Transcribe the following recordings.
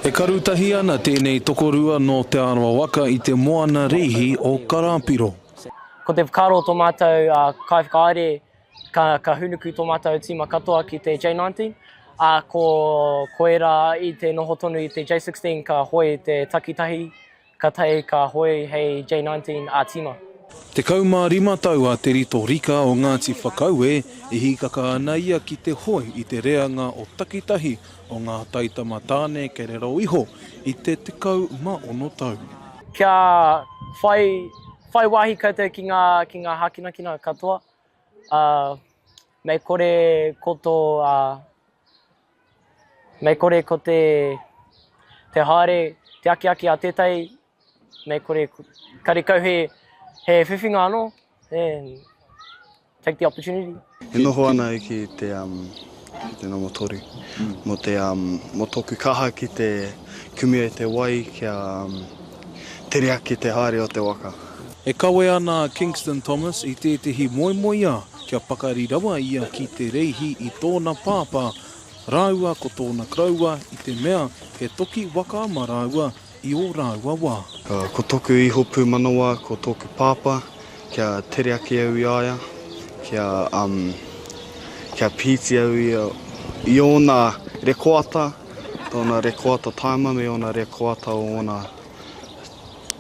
E karu tahi ana tēnei tokorua nō Te Arawa waka i te moana rīhi o Karāpiro. Ko te whakaaro o tō mātou kaiwhakahaere ka hūnuku tō mātou tīma katoa ki te J19, ā, ko ērā i te noho tonu i te J16 ka hoe te takitahi Ka tae ka hoe hei J19 a Tima. Tekau mā rima tau a Te Rito Rika o Ngāti Whakaue, e hīkaka ana ia ki te hoe i te reanga o takitahi o ngā taitama tāne kei raro iho i te tekau mā ono tau. Kia whai, whai wāhi koutou ki ngā, ki ngā hākinakina katoa, ā, mei kore ko tō, ā, Mei kore ko te te haere, te akiaki a tētahi, mei kore karekau he he whiwhinga anō, and take the opportunity. E noho ana au ki te te nomo toru mo te mo toku kaha ki te kumu ai te wai kia tere ake te haere o te waka. E kawe ana a Kingston Thomas i tētehi moemoeā kia pakari rawa ia ki Te Reihi i tōna pāpā rāua ko tōna koroua i te mea he toki waka ma rāua i ō rāua wā. Ko toku iho pūmanawa ko tōku pāpā kia tere ake au i a ia, kia kia pīti au i a i ōna rekoata, tōna rekoata taima me ōna rekoata o ōna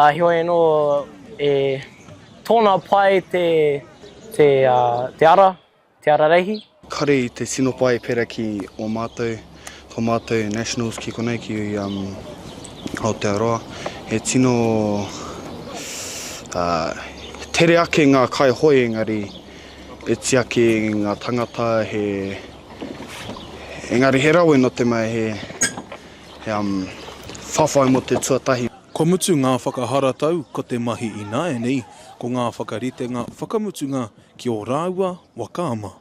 Ā, heoi anō, e tōna pae te, te, ā, te ara, te ara reihi. Kare i te tino pae pera ki o mātou, ko mātou Nationals ki konei ki, um, Aotearoa. He tino, ā, tere ake ngā kaihoe engari e tiaki ngā tangata he, engari he rawe nō te mea he, he, um, whawhai mō te tuatahi. Kua mutu ngā whakaharatau ko te mahi ināianei ko ngā whakaritenga whakamutunga ki ō rāua waka ama,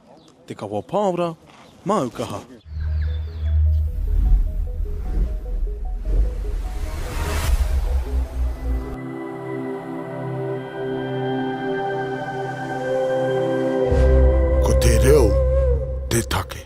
Te Kawa Pāora, Māukaha. Ko te reo te take.